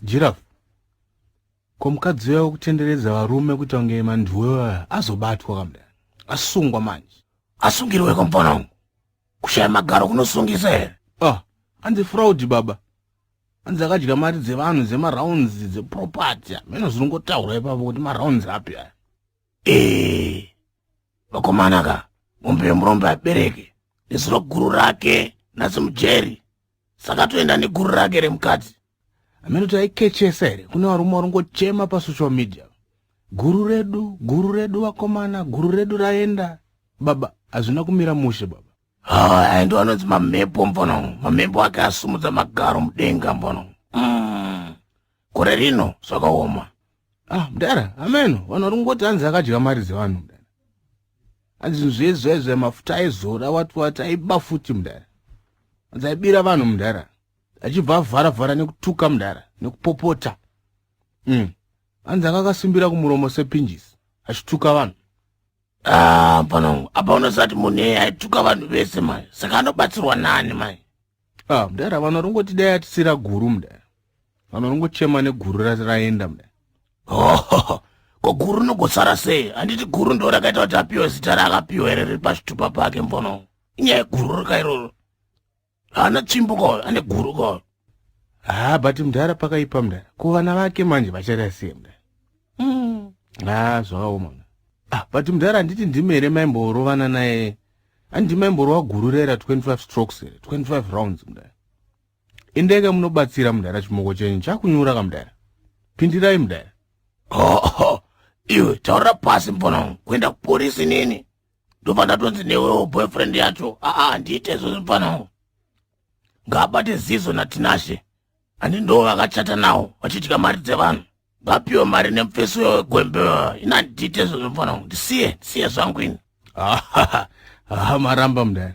Giraffe ko mukadzi uya wekutenderedza varume kuita kunge manduwe vaya azobatwa kamda asungwa manje asungirwe komupona umu kushaya magaro kunosungisa here ah anzi fraud baba anzi akadya mari dzevanhu dzemarounds dzeproperty ameno zvinongotaura ipapo kuti marounds api aya ee vakomana ka mombe yemurombe abereke nezuro guru rake nasi mujeri saka toenda neguru rake remukadzi ameno taikechesa here kune varume varingochema pasocial media guru redu guru redu vakomana guru redu raenda baba hazvina kumira mushe baba haa ndo anonzi mamhepo mbono mamhepo ake asumudza magaro mudenga mbono mm. gore rino zvakaoma ah mdara ameno vanhu vari kungoti hanzi akadya mari dzevanhu mdara hanzi zvezvezve mafuta aizora wati wati aiba futi mdara hanzi aibira vanhu mdara achibva avhara vhara nekutuka mdara nekupopota mm. anzi anga akasimbira kumuromo sepinjisi achituka vanhu ah, pano apa unosati munhu eye aituka vanhu vese mai saka anobatsirwa nani mai ah, mdara vanhu varingoti dai atisira guru mdara vanhu varingochema neguru raenda mdara oh, ko guru rinogosara sei handiti guru ndo rakaita kuti apiwe zita raakapiwa here riri pachitupa pake mbono inyaya yeguru rika iroro haana tsvimbo ka ane guru ka ha but mdhara pakaipa mdhara ko vana vake manje vachada sei mdhara mm. ha zvakaoma ah, but mdhara handiti ndimi here maimborovana naye handiti maimborova guru rera 25 strokes here 25 rounds mdhara indeke munobatsira mdhara chimoko chenyu chakunyura ka mdhara pindirai mdhara oh, oh. iwe taura pasi mfana wangu kuenda kuporisi nini ndobva ndatonzi newewo boyfriend yacho aa handiite izvozvo mfanao ngaabate zizo natinashe ani ndo vakachata nawo vachidya mari dzevanhu vapiwe mari nemufesi uyo wegwembe ina handiite izvozvo mfanao ndisiye ndisiye zvangu ini hamaramba mudari